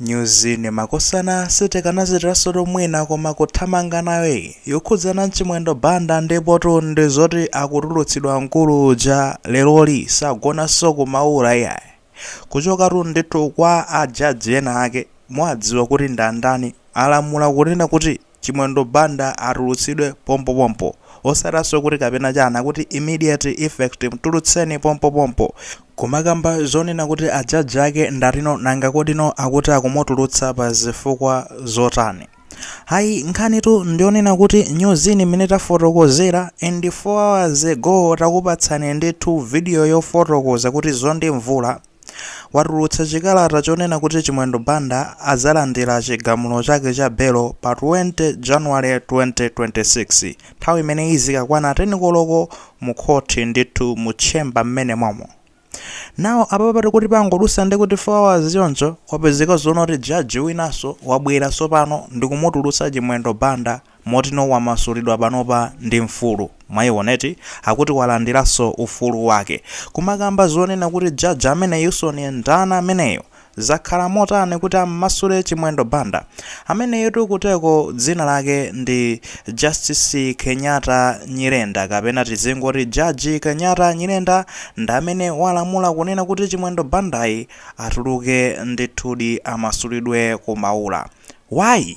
Nyuzini makosana sitikanachitiransotu mwina koma kuthamanga nayo iyi yokhudzana Chimwendo Banda ndipotu ndi zoti akutulutsidwa mkulu uja leroli sagonanso ku Maula iyayi kuchokatu ndithu kwa a jaji ena ake muwadziwa kuti ndandani alamula kunena kuti Chimwendo Banda atulutsidwe pompopompo. Osatanso kuti kapena chani, akuti immediate effect, mtulutseni pompopompo. Kumakamba zonena kuti a jaji ake ndati no nanga kodi no akuti akumutulutsa pa zifukwa zotani? Ayi nkhanitu ndiyonena kuti nyuzini imene tafotokozera and 4 hours ago takupatsani ndithu video yofotokoza kuti Mzondi Mvula, watulutsa chikalata chonena kuti Chimwendo Banda adzalandira chigamulo chake cha belo pa 20 January 2026 nthawi imene izikakwana 10 koloko mu khoti ndithu mu tchemba mmene momo. Now apa pati kuti pangodutsa ndi kuti 4 hours choncho kwapezeka zonena kuti jaji winanso wabwera tsopano ndi kumutulutsa Chimwendo Banda Moti no wamasulidwa panopa ndi mfulu. Mwaiona eti? Akuti walandiranso ufulu wake. Kumakamba zonena kuti jaji ameneyunso ni ndani ameneyu? Zakhala motani kuti ammasule Chimwendo Banda? Ameneyutu kuteko dzina lake ndi Justice Kenyatta Nyirenda kapena tizingoti Jaji Kenyatta Nyirenda ndamene walamula kunena kuti Chimwendo Banda ayi atuluke ndithudi amasulidwe ku Maula. Why?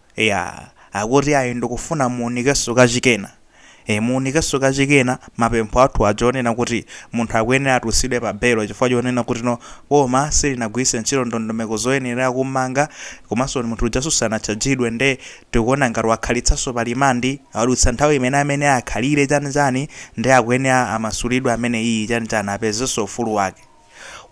Eya, akuti ayi ndikufuna muunikenso kachikena. E, muunikenso kachikena mapempho athu aja onena kuti munthu akuyenera atulutsidwe pa belo chifukwa chonena kuti no boma silinagwiritse ntchito ndondomeko zoyenera kummanga komanso munthu ujanso sanatchajidwe nde tikuona ngati wakhalitsanso pa rimandi wadutsa nthawi imene amene akhalire chani chani nde akuyenera amasulidwe ameneyiyi chani chani apezenso ufulu wake.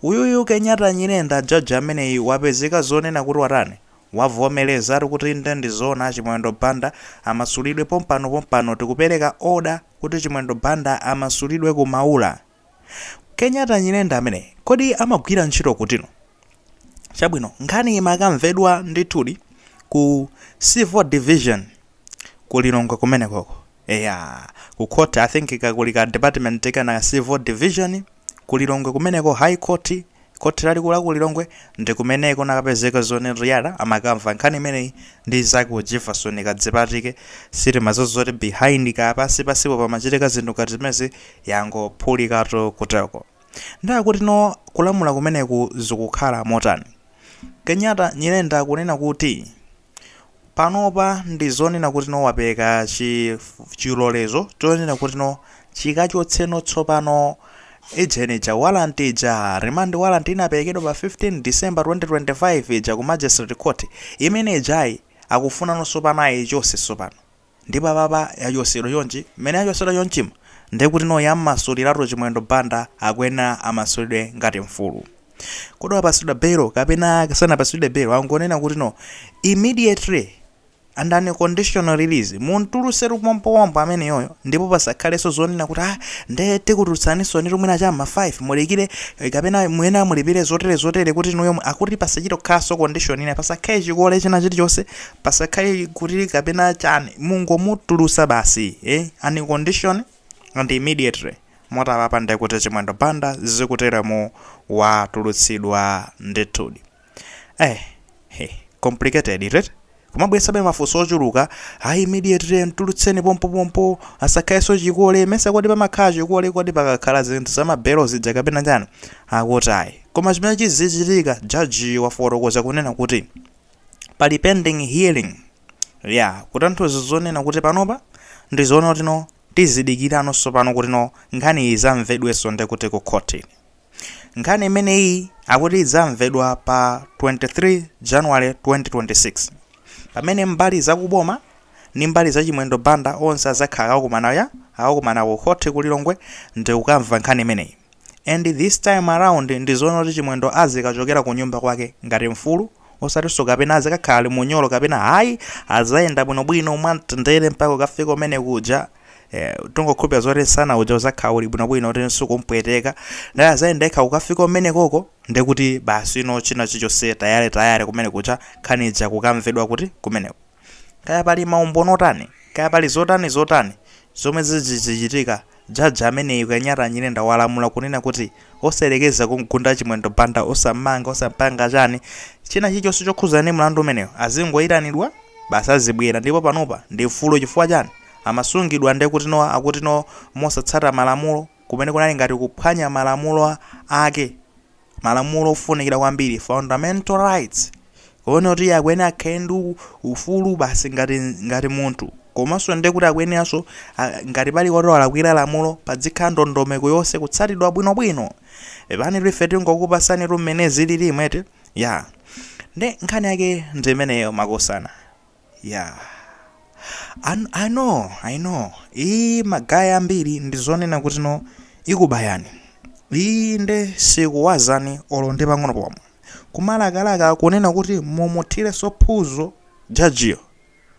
Uyuyu Kenyatta Nyirenda jaji ameneyu wapezeka zonena kuti watani? Wavomerezatu kuti inde ndizoona Chimwendo Banda amasulidwe pompano pompano tikupereka order kuti Chimwendo Banda amasulidwe ku Maula. Kenyatta Nyirenda ameneyi kodi amagwira ntchito kuti no? Chabwino nkhani imakamvedwa ndithudi ku Civil Division ku Lilongwe kumenekoko. Eya ku court I think ka kuli ka department kena Civil Division. Ku Lilongwe kumeneko, High Court, Khoti Lalikulu la ku Lilongwe, ndi kumene kunakapezeka zoti Riara amakamva nkhani imeneyi ndi mnzake wa Jivason Kadzipatike. Sitimadziwa zoti behind kaya pansi pansipo pamachitika zinthu ngati zimenezi yangophulikatu kuteko. Nde akuti no kulamula kumeneku zikukhala motani? Kenyatta, Nyirenda akunena kuti. Panopa ndi zonena kuti no wapeleka chilolezo chonena kuti no chikachotse no tsopano ija ija warrant ija remand warrant inapelekedwa pa 15 December 2025 ija ku magistrate court imene ijayi akufunano tsopano ayichose tsopano. Ndipo apapa yachosedwa chonchi mmene yachosedwa chonchima nde kuti no yammasuliratu chimwendo Banda akuyenera amasulidwe ngati mfulu kodi wapasidwa belo kapena sanapasidwe belo angonena kuti no immediately and unconditional release mumtulutsetu pompopompo ameneyoyo ndipo pasakhaleso zonena kuti aa nde tikutulutsaniso nditu mwina cha mma 5 mudikire kapena muyenera mulipile zotere zotere kuti inuyo akuti pasachito khaso condition ina pasakhale chikole china chilichose pasakhale kuti kapena chani mungomutulusa basi unconditional and immediately moti apapa ndekuti chimwendo banda zikuteremu watulutsidwa ndithudi eh he complicated right kumabwesabe mafunso ochuluka ayi immediately mtulutseni pompopompo asakhalenso chikole mesa kodi pamakhala chikole kodi pakakhala zinthu zamabelo zija kapena chani akuti ayi koma chimene chizichitika jaji wafotokoza kunena kuti pali pending hearing ya kutanthauza zonena kuti panopa ndizoona kuti no tizidikirano tsopano kuti no nkhani iyi zamvedwenso ndi kuti ku khoti nkhani imeneyi akuti idzamvedwa pa 23 january 2026 pamene mbali zakuboma ndi mbali za chimwendo banda onse adzakhala akakumana ya akakumana ku khoti ku lilongwe ndi kukamva nkhani imeneyi And this time around ndizoona kuti chimwendo azikachokera kunyumba kwake ngati mfulu osatinso kapena azikakhala ali munyolo kapena hayi azayenda bwinobwino mwamtendere mpaka kukafika umene kuja eh, tingokhulupira zoti nsana uja uzakhala uli bwinobwino kuti sukumpweteka nde azayenda yekha kukafika umene koko ndekuti basi ino china chichonse tayale tayale kumene kuja nkhani ija kukamvedwa kuti kumeneko Kaya pali maumboni otani, kaya pali zotani zotani zomwe zidzichitika, jaji ameneyu Kenyatta Nyirenda walamula kunena kuti osayerekeza kumgunda Chimwendo Banda, osammanga, osampanga chani, china chilichonse chokhudzana ndi mlandu umenewu azingoyitanidwa basi azibwera ndipo panopa ndi mfulu chifukwa chani amasungidwa ndekutino akutino mosatsata malamulo kumene kunali ngati kuphwanya malamulo ake. malamulo ofunikira kwambiri fundamental rights kuona kuti akuyenera akhale ndi u- ufulu basi ngati ngati munthu komanso ndi kuti akuyeneranso a- ngati pali woti walakwira lamulo padzikhala ndondomeko yonse kutsatidwa bwinobwino apa ndiye ife tingokupasanitu mmene zilili imwe eti ya ndi nkhani yake ndi imeneyo makosana Yeah. Ah, I know, I know. Iyi magayi ambiri ndi zonena kuti no ikubayani. Iyi nde sikuwazani olo ndi pang'ono pomwe. Kumalakalaka kunena kuti mumuthirenso phuzo jajiyo.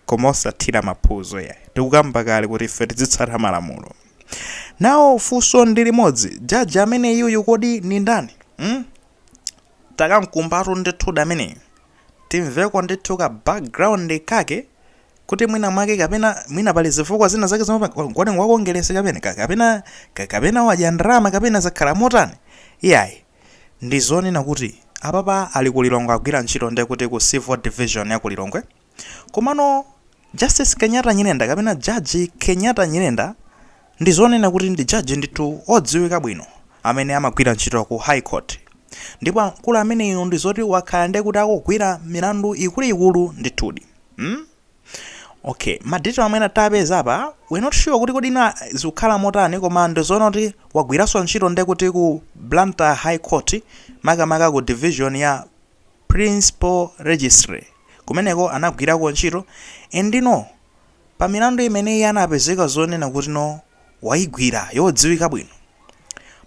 Koma osathira maphuzo ya. Tikukamba kale kuti ife tizitsata malamulo. Now funso ndi limodzi, jaji amene uyuyu kodi ni ndani? Hmm? Takamkumbatu ndithu ameneyu. timveko ndithu ka background kake kuti mwina mwake kapena mwina pali zifukwa zina zake zomwe pa- kodi ngwa Kongeresi kapena ka- kapena ka- kapena wadya ndalama kapena zakhala motani iyayi ndi zonena kuti apapa ali ku Lilongwe agwira ntchito nde kuti ku civil division ya ku Lilongwe komano Justice Kenyatta Nyirenda kapena Jaji Kenyatta Nyirenda ndi zonena kuti ndi jaji ndithu odziwika bwino amene amagwira ntchito ku High Court ndipo akulu amenewo ndi zoti wakhala ndiye kuti akugwira milandu ikuluikulu ndithudi. Hmm? Okay, ma detail amene tapeza apa we're not sure kuti kodi zina zikukhala motani koma ndi zoona kuti wagwiranso ntchito ndiye kuti ku Blantyre High Court makamaka ku division ya principal registry kumeneko anagwirako ntchito and no pa milandu imene iye anapezeka zonena kuti no waigwira yodziwika bwino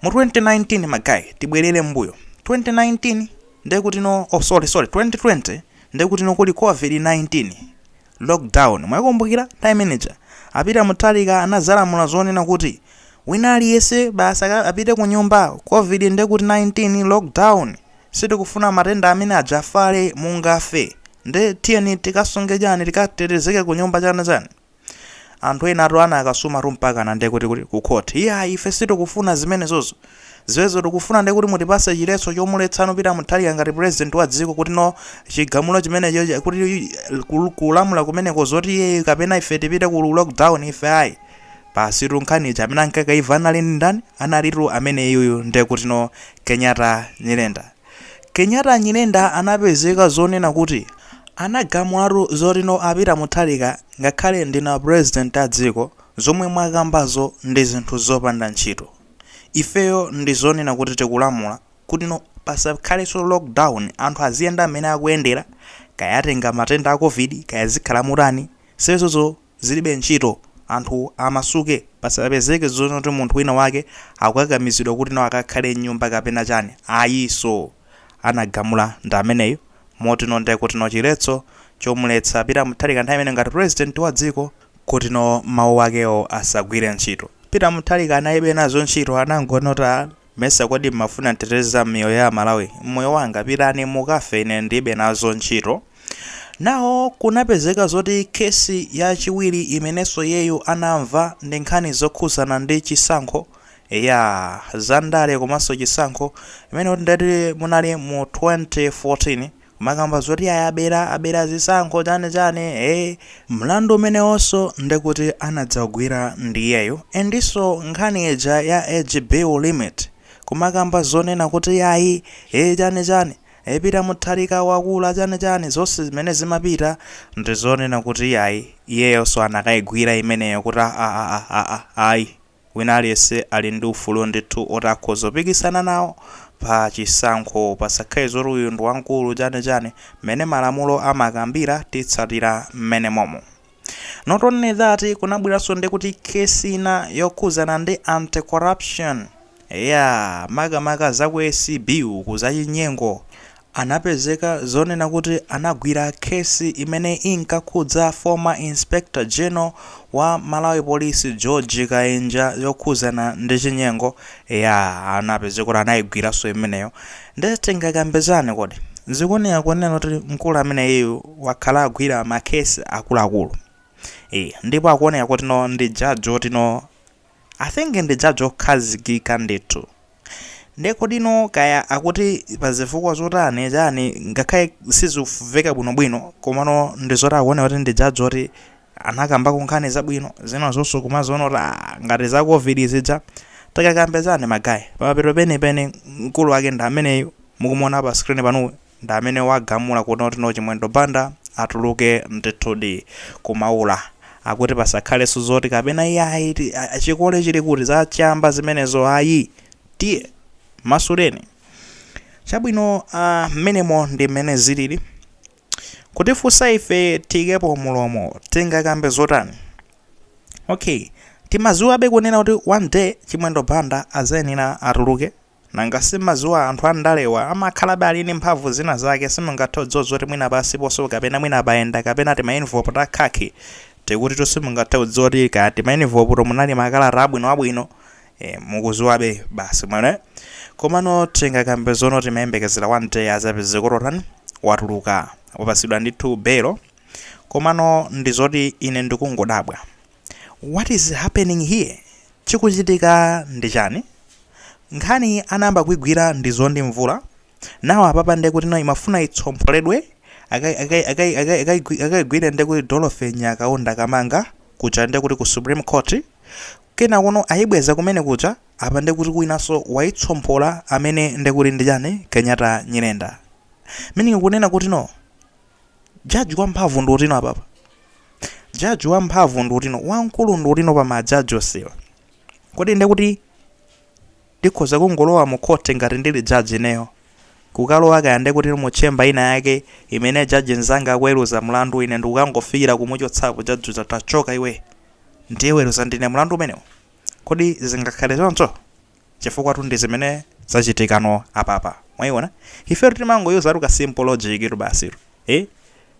mu 2019 magayi tibwerere m'mbuyo 2019 ndekuti no oh sorry sorry 2020 ndekuti no kuli covid 19 lock down mwaikumbukira nthawi imene ija a Peter Mutharika anadzalamula zonena kuti wina aliyese basi aka- apite ku nyumba covid ndekuti 19 lock down sitikufuna matenda amenewa afale mungafe nde tiyeni tikasunge chani tikatetezeke ku nyumba chana chani anthu enatu anakasumatu mpakana ndekuti kuti ku court iyayi ife sitikufuna zimenezozo Zimenezo tikufuna nde kuti mutipatse chiletso chomuletsano Peter Mutharika ngati president wa dziko kuti no chigamulo chimenecho kuti kulamula kumeneko zoti iyeyo kapena ife tipite ku lockdown ife ayi basitu nkhani ija amene anakaimva anali ndi ndani analitu amene uyuyu nde kuti no Kenyatta Nyirenda Kenyatta Nyirenda anapezeka zonena kuti anagamulatu zoti no a Peter Mutharika ngakhale ndinu president a dziko zomwe mwakambazo ndi zinthu zopanda ntchito. Ifeyo ndi zonena kuti tikulamula kuti no pasakhalenso lock down anthu aziyenda mmene akuyendera kaya atenga matenda a covid kaya zikhala motani zimenezozo zilibe ntchito anthu amasuke pasapezeke zonena kuti munthu wina wake akukakamizidwa kuti no akakhale m'nyumba kapena chani ayinso anagamula ndi ameneyo moti no ndekuti no chiletso chomuletsa Peter Mutharika nthawi imeneyo ngati president wa dziko kutino mawu akewo asagwire ntchito. Peter Mutharika analibe nazo ntchito anangona kuti ah mesa kodi mmafuna nditeteze za miyoyo ya amalawi mmoyo wanga pitani mukafe ine ndilibe nazo ntchito. Now kunapezeka zoti case ya chiwiri imenenso iyeyu anamva ndi nkhani zokhuzana ndi chisankho eya za ndale komanso chisankho imene kuti ndeti munali mu 2014. Kumakamba zoti iyayi abera, abera zisankho chani chani ee mlandu umenewonso ndekuti anadzawugwira ndiyeyo endiso nkhani ija ya age limit bill kumakamba zonena kuti ayi ee chani chani ee Peter Mutharika wakula chani chani zonse zimene zimapita ndizonena kuti ayi iyeyonso anakayigwira imeneyo kuti aah aah aah ayi Wina aliyense ali ndi ufulu ndithu oti akhoza kupikisana nawo pa chisankho. Pasakhale zoti uyu ndi wamkulu chani chani. Mmene malamulo amakambira titsatira mmenemomo. Not only that kunabweranso ndi kuti case ina yokhuzana ndi anti corruption. Eyaa makamaka za ku acb uku zachinyengo. anapezeka zonena kuti anagwira case imene inkakhudza former Inspector General wa Malawi Police George Kainja yokhuzana ndi chinyengo eyaa anapezeka kuti anayigwiranso imeneyo nde tingakambe zani kodi zikuoneka kunena kuti mkulu ameneyu wakhala akugwira ma case akuluakulu ee ndipo akuoneka kuti no ndi judge woti no I think ndi judge okhazikika ndithu. Nde kodino kaya akuti pazifukwa zotani chani ngakhale sizikuveka bwino bwino komano ndizoti akuoneka kuti ndi judge oti anakambako nkhani zabwino zina zoso kumaziona kuti aah ngati za covid zija tikakambe zani ma guy pamapeto penipeni mkulu wake ndi ameneyu mukumuona pa screen panuyu. Ndi amene wagamula kunena kuti no Chimwendo Banda atuluke ndithudi ku Maula akuti pasakhalenso zoti kapena iyayi ti- a- a- chikole chili kuti za chamba zimenezo ayi tiye masuleni chabwino ah, mmenemo ndi mmene zilili kutifunsa ife tiikepo mulomo tingakambe zotani okay timaziwabe kunena kuti one day Chimwendo Banda azayenera atuluke Nanga simaziwa anthu andalewa amakhalabe ali ndi mphamvu zina zake simungathe kudziwa zoti mwina pasiponso kapena mwina apayenda kapena tima enivolopu ta khakhi tikutito simungathe kudziwa kuti kaya tima enivoloputo munali makalata abwino abwino ee mukuziwabe basi mwene komano tingakambe zono timayembekezera one day azapezeka kuti otani watuluka wapasidwa ndithu belo komano ndizoti ine ndikungodabwa what is happening here Chikuchitika ndi chani? Nkhani anayamba kuigwira ndi Zione Mvula, now apapa nde kuti imafuna itsompholedwe akaigwire nde kuti Dorothy Nyakaunda Kamanga kuja nde kuti ku Supreme Court, kenakono ayibweza kumene kuja apa nde kuti winaso waitsomphola amene nde kuti ndi chani Kenyatta Nyirenda. Meaning kunena kutino. jaji wamphamvu ndi uti apapa jaji wamphamvu ndi uti wamkulu ndi uti pa majaji onsewa kodi nde kuti ndikhoza kungolowa mu khoti ngati ndili jaji ineyo kukalowa kaya nde kuti mu tchemba ina yake imene jaji nzanga akuweruza mlandu ine ndikukangofikira kumuchotsapo jaji uja tachoka iwe ndiweruza ndine mlandu umenewo kodi zingakhale choncho chifukwatu ndi zimene zachitikano apapa mwaiona ifetu timangoyuzatu ka simple logictu basitu eh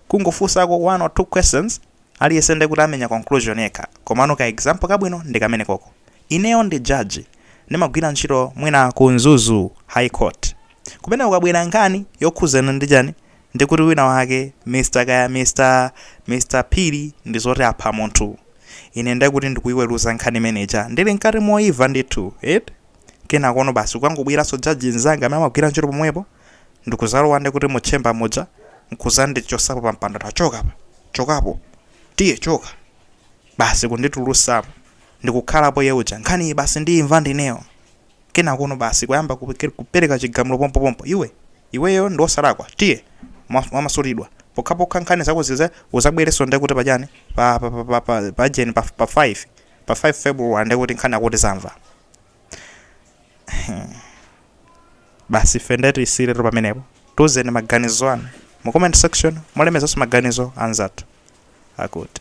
kungofunsako one or two questions aliyense nde kuti amenya conclusion yekha komano ka example kabwino ndi kamene koko ineyo ndi judge ndimagwira ntchito mwina ku Mzuzu high court Kumene kukubwera nkhani yokhudzana ndi chani? Ndi kuti wina wake Mr kaya Mr Mr Phiri ndi zoti apha munthu. Ine nde kuti ndikuiweruza nkhani imene ija ndili mkati moimva ndithu eti. Kenakono basi kukangobweranso judge nzanga amene amagwira ntchito pomwepo ndikudzalowa ndi kuti mu chamber muja nkudzandichotsapo pa mpando tachoka apa, chokapo, tiye choka. Basi kunditulutsamo. Ndikukhalapo iye uja. Nkhaniyi basi ndiimva ndineyo. kenakono basi kuyamba kupe- kupereka chigamulo pompopompo iwe iweyo ndi wosalakwa tiye mwa- mwamasulidwa pokhapokha nkhani zako zize uzabwerenso ndiye kuti pachani pa pa pa pa pa pa jeni pa, pa 5 pa 5 february ndiye kuti nkhani akuti zamva basi ife ndiye tisiyiretu lero pamenepo tiuzeni maganizo anu mu comment section molemekezanso maganizo anzathu akuti